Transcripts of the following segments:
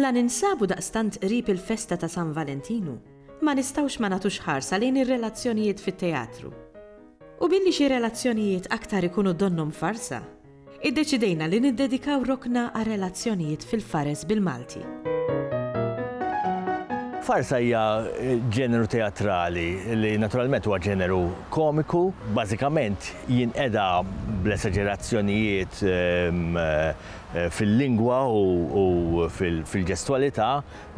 La ninsabu daqstant qrib il-festa ta' San Valentinu, ma nistgħux ma nagħtux ħarsa lejn ir-relazzjonijiet fit-teatru. U billi xi relazzjonijiet aktar ikunu donnhom farsa, Iddeċidejna li niddedikaw rokna għar-relazzjonijiet fil-Fares bil-Malti. Farsa hija ġeneru teatrali li naturalment huwa ġeneru komiku, bażikament jinqeda bl-esaġerazzjonijiet ehm, eh, fil-lingwa u fil-ġestwalità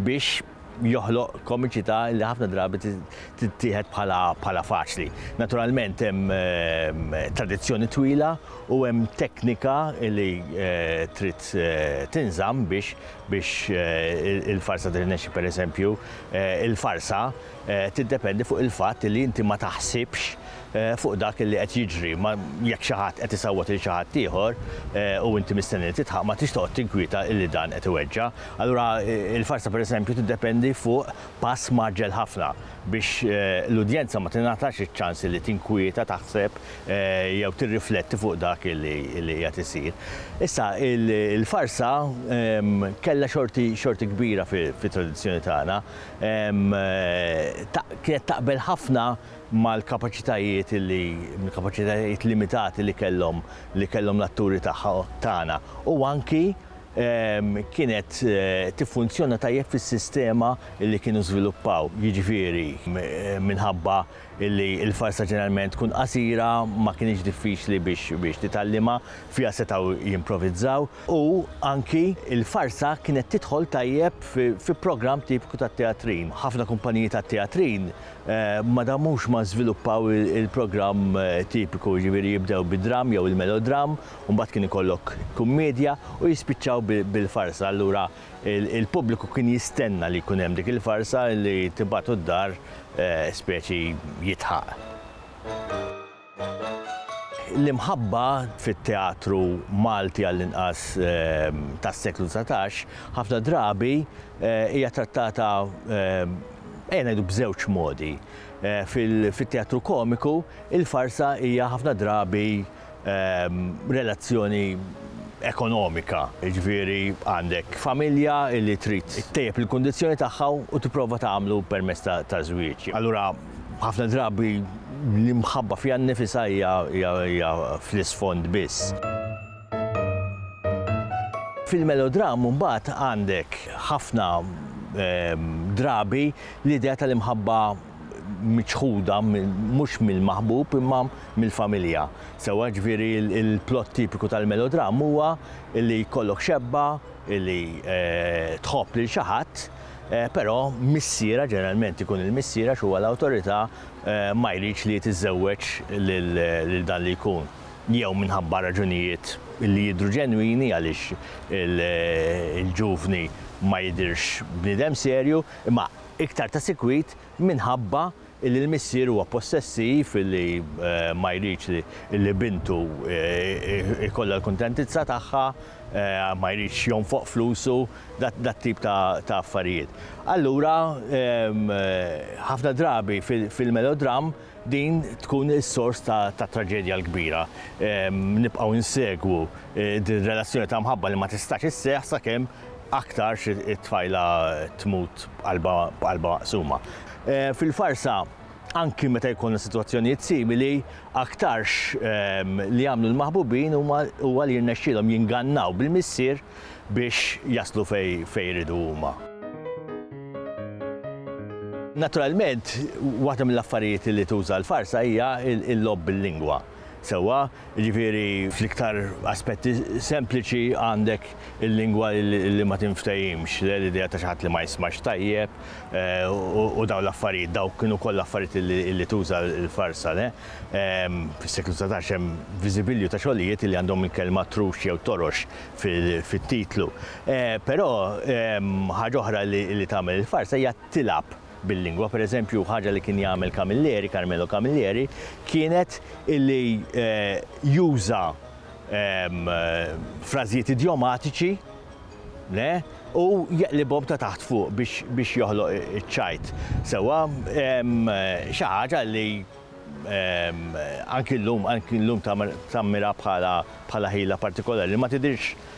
biex joħloq komiċità li ħafna drabi tittieħed bħala faċli. Naturalment hemm ehm, tradizzjoni twila u hemm teknika li eh, trid eh, tinżamm biex biex eh, il-farsa tirnexxi pereżempju il-farsa tiddependi fuq il-fatt li inti ma taħsibx fuq dak li qed jiġri. Ma jekk xi ħadd qed isawwat lil xi ħadd ieħor u inti mistenni li tidħaq ma tridx toqgħod tinkwieta illi dan qed iweġġa'. Allura il-farsa pereżempju tiddependi fuq pass mgħaġġel ħafna biex l-udjenza ma tingħatax iċ-ċans illi tinkwieta, taħseb jew tirrifletti fuq dak illi qiegħed isir. Issa il-farsa kellha xorti xorti kbira fit-tradizzjoni tagħna. Kienet taqbel ħafna mal-kapaċitajiet li mill-kapaċitajiet limitati li kellhom li kellhom l-atturi tagħha tagħna u anki ehm, kienet eh, tiffunzjona tajjeb fis-sistema li kienu żviluppaw, jiġifieri eh, minħabba li l-farsa ġeneralment tkun qasira ma kienx diffiċli biex biex titgħallima fiha setgħu jimprovizzaw u anki l-farsa kienet tidħol tajjeb fi, fi programm tipiku tat-teatrin. Ħafna kumpaniji tat-teatrin Ma damux ma żviluppaw il-programm tipiku, jiġifieri jibdew bid-dramm jew il-melodramm, u mbagħad kien ikollok kummiedja u jispiċċaw bil-farsa. Allura il-pubbliku kien jistenna li jkun hemm dik il-farsa li tibagħtu d-dar speċi jidħaq. L-imħabba fit-teatru Malti għall-inqas tas-seklu dsatax ħafna drabi hija trattata ejja ngħidu b'żewġ modi. Fit-teatru komiku il-farsa hija ħafna drabi relazzjoni ekonomika, jiġifieri għandek familja li trid ittejjeb il-kundizzjoni tagħha u tipprova tagħmlu permezz ta' żwieġ. Allura Ħafna drabi l-imħabba fiha nnifisha hija fl-isfond biss. Fil-melodram mbagħad għandek ħafna drabi l-idea tal-imħabba miċħuda mhux mill-maħbub imma mill-familja. Sewwa ġifieri l-plott tipiku tal-melodram huwa li jkollok xebba li tħobb lil xi ħadd Però missiera, ġeneralment ikun il-missier għax huwa l-awtorità, ma jridx li tiżżewweġ lil dan li jkun, jew minħabba raġunijiet li jidhru ġenwini għaliex il-ġuvni ma jidhirx bniedem serju, imma iktar ta' sikwit minħabba Illi l-missier huwa possessiv, illi ma jridx li bintu jkollha l-kuntentizza tagħha, ma jridx jonfoq flusu, dat-tip ta' affarijiet. Allura ħafna drabi fil-melodramm din tkun is-sors tat-traġedja l-kbira. Nibqgħu nsegwu din ir-relazzjoni ta' mħabba li ma tistax isseħħ sakemm Aktarx it-tfajla tmut b'qalbha b'qalbha maqsuma. Fil-farsa, anki meta jkollna sitwazzjonijiet simili, aktarx li jagħmlu l-maħbubin huma huwa li jirnexxielhom jingannaw bil-missier biex jaslu fejn fejn iridu huma. Naturalment, waħda mill-affarijiet li tuża l-farsa hija l-logħob bil-lingwa. sewwa, jiġifieri fl-iktar aspetti sempliċi għandek il-lingwa li ma tinftehimx, l-idea ta' xi ħadd li ma jismax tajjeb u dawn l-affarijiet, dawk kienu kollha affarijiet li tuża l-farsa. Fis-seklu dsatax hemm viżibilju ta' xogħlijiet li għandhom il-kelma trux jew torox fit-titlu. Però ħaġa oħra li tagħmel il-farsa hija tilgħab. bil-lingwa. Per eżempju, ħaġa li kien jagħmel Camilleri, Carmelo Camilleri, kienet illi juża frażijiet idjomatiċi u jeqlibhom ta' taħt fuq biex joħloq iċ-ċajt. Sewwa, xi ħaġa li anki llum tammira bħala ħila partikolari li ma tidhirx